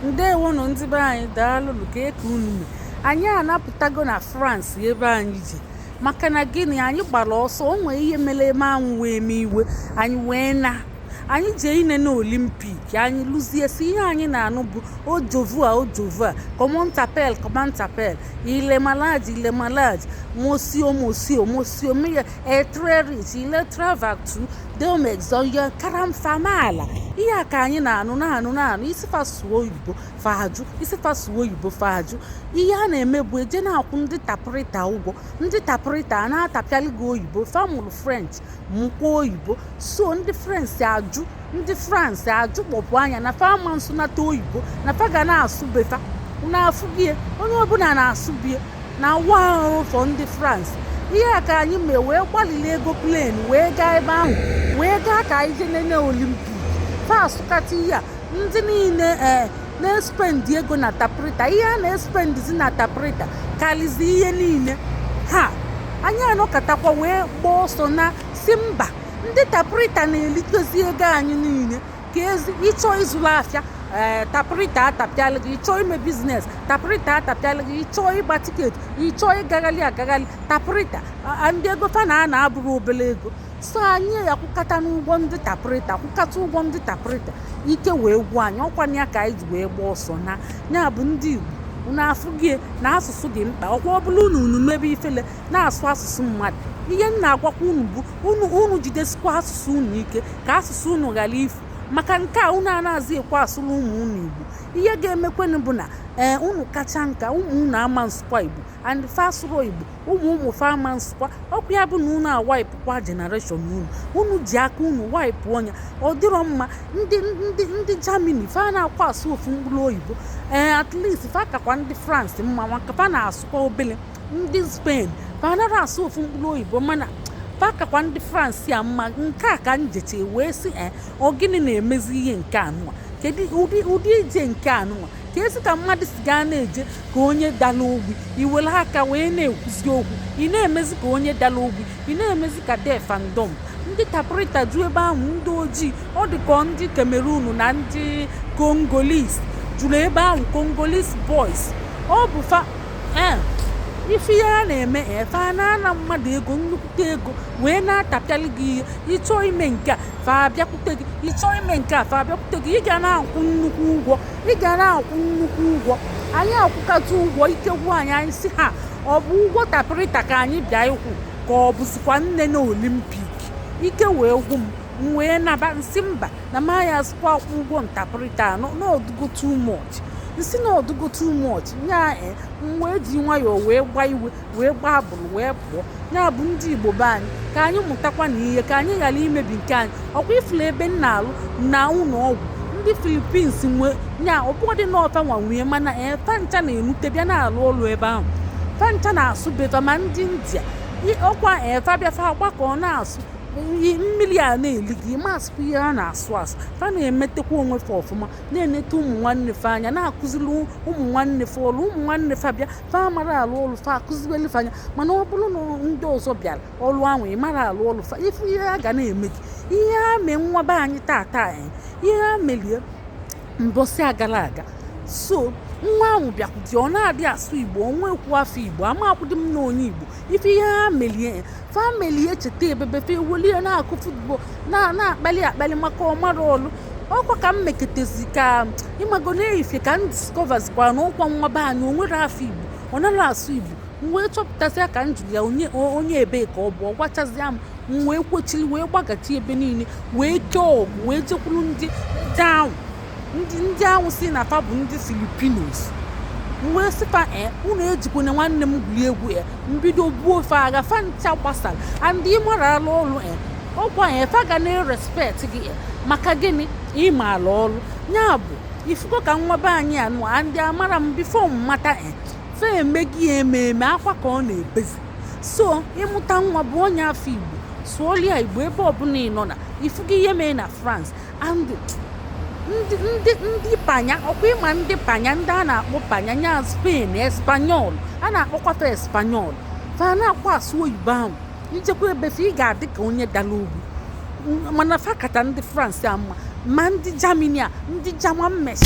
ndewonụ ndị be anyị daalụnụ kee ka unu mee anyị anapụtago na France ebe anyị jee maka na gịnị anyị gbara ọsọ o nwee ihe mere eme anwụ wee mee iwe anyị wee naa anyị jee inene olimpik anyị luzie sọ ihe anyị na-anụ bụ au revoir au revoir comment t'appelles comment t'appelles il est malade il est malade monsieur monsieur monsieur mais est très riche iletravatu Delmex zọnye karam famaala ihe a ka anyị na-anụ na-anụ na-anụ ị sị fa sụọ oyibo fa ajụ ị sị fa sụọ oyibo fa ajụ ihe a na-eme bụ e jee na-akwụ ndị tapụrịta ụgwọ ndị tapụrịta a na-atapịalị gị oyibo fa mụrụ french mụkwa oyibo so ndị french ajụ ndị france ajụ kpọpụ anya na fa ama nsụnata oyibo na fa ga na-asụ be fa na-afụ bie onye ọbụla na-asụ be ya na wa o for ndị France ihe a ka anyị mee wee gbalili ego plen wee gaa ebe ahụ wee gaa ka anyị jee nene olimpik fa sụkata ihe a ndị niile ee eh, na-espendi ego na taprita ihe a na-espendizi na taprita karịzi ihe niile a anyị anọkatakwa wee gbaa ọsọ naa sị mba ndị taprita na-elikọzi ego anyị niile because ị chọọ ịzụrụ afịa ee eh, tapụrịta atapịala gị ị chọọ ime biznes tapụrịta atapịala gị ị chọọ ịgba tiketi ị chọọ ịgagharị agagharị tapụrịta and ego fa na-ana abụrọ obere ego so anyị akwụkatanụ ụgwọ ndị tapụrịta akwụkata ụgwọ ndị tapụrịta ike wee gwụ anyị ọkwa nya ka anyị ji wee gbaa ọsọ naa ya bụ ndị Igbo unu afụgo na asụsụ dị mkpa ọkwa ọ bụrụ na unu mebe ifele na-asụ asụsụ mmadụ ihe m na-agwakwa unu bụ unu unu jidesikwa asụsụ unu ike ka asụsụ unu ghara ifu maka nke a unu anaghịzi ekwe asụrụ ụmụ unu igbo ihe ga-emekwenụ bụ na ee eh, unu kachaa nka ụmụ unu ama nsụkwa igbo and fa asụrọ igbo ụmụ ụmụ fa ama nsụkwa ọkwa ya bụ na unu awaipụkwa generation unu unu ji aka unu waipụọ nya ọ dịrọ mma ndị ndị ndị Germany fa anakwa asụ ofu mkpụrụ oyibo ee eh, at least fa kakwa ndị france mma maka fa na-asụkwa obele ndị Spain fa anaghị asụ ofu mkpụrụ oyibo mana fa kakwa ndị France a mma nke a ka m ji chee wee sị e ọ gịnị na-emezi ihe nke anụwa kedu ụdị ụdị ije nke anụwa keezi ka mmadụ si ga na-eje ka onye dala ogbi i were aka wee na-ekwuzi okwu ị na-emezi ka onye dala ogbi ị na-emezi ka deaf and dumb ndị taprịta ju ebe ahụ ndị ojii ọ dị ka ndị Cameroon na ndị Congolese juru ebe ahụ Congolese boys ọ bụ fa ee ifu ihe a na-eme fa na-ana mmadụ ego nnukwute ego wee na-atapịalị gị ihe ịchọọ ime nke a fa abịakwute gị ịchọọ ime nke a fa abịakwute gị ị ga na-akwụ nnukwu ụgwọ ị ga na-akwụ nnukwu ụgwọ anyị akwụkata ụgwọ ike gwụ anyị anyị si ha ọ bụ ụgwọ tapịrịta ka anyị bịa ịkwụ ka ọ bụzikwa nne na olympic ike wee gwụ m m wee naba m sị mba na maya sịkwa akwụ ụgwọ ntapịrịta n'ọdụgo too much m sị na ọdụgo too much ya eh, m wee ji nwayọọ wee gbaa iwe wee gbaa abụrụ wee pụọ ya bụ ndị igbo be anyị ka anyị mụtakwa na ihe ka anyị ghara imebi nke anyị ọkwa ifula ebe m na-alụ na ụlọ ọgwụ ndị philippines nwe ya ọbụdị na ọ fa nwa nwe ya mana ee eh, fancha na-enute bịa na-alụ ọlụ ebe ahụ fancha na-asụ beta ma ndị india ọkwa fa eh, bịafa gbakọ na-asụ mmiri a na-eli gị masịkwa ihe a na-asụ asụ fa na-emetekwa onwe fa ọfụma na-enete ụmụ nwanne fa anya na-akụziri ụmụ nwanne fa ọrụ ụmụ nwanne fa bịa fa mara alụ ọrụ fa akụzibeli fa nya mana ọ bụrụ na ndị ọzọ bịara ọrụ ahụ ị mara alụ ọrụ fa ifu ihe a ga na-eme gị ihe a mee nwa be anyị tata ihe a melie mbọsị agara aga so nwa ahụ bịakwụdị ọ na-adị asụ igbo o nwekwu afa igbo amakwụdị m na onye igbo ifu ihe ha melie fa meli echeta ebebe fa ewelie na-akụ football na-akpali akpali maka ọmara ọlụ ọkwa ka m meketezi ka ịmago na-eyife ka m discoverzikwa na ọkwa nwa be anyị onwere afa igbo ọ naghị asụ igbo m wee chọpụtasịa ka m jụrụ ya onye ebee ka ọ bụ ọ gwachazịa m m wee kwochiri wee gbagachi ebe niile wee kee ọgụ wee jekwuru ndị ahụ ndị ndị ahụ si na fa bụ ndị filipinos m wee si fa e eh, unu ejikwana nwanne m gwuri egwu e eh, m bido buo fa agha fa ncha gbasara and ị mara alụ ọrụ e eh, ọkwa ya fa ga na-erespect gị e maka gịnị ịma alụ ọrụ ya bụ ifugo ka nwa be anyị anụ a and amara m before m mata e fa emego ya ememe akwa ka ọ na-ebezi so ịmụta nwa bụọ nya afa igbo sụọlia igbo ebe ọbụla ị nọ na ifugo ihe mee na france ndị panya ọkwa ịma ndị panya ndị a na-akpọ panya nya spain espanyọl a na-akpọkọta espanyọl fa anakwa asụ oyibo ahụ ijekwa be fa ị ga-adị ka onye dara ogbu mana fa kata ndị france mma ma ndị germany a ndị german mesi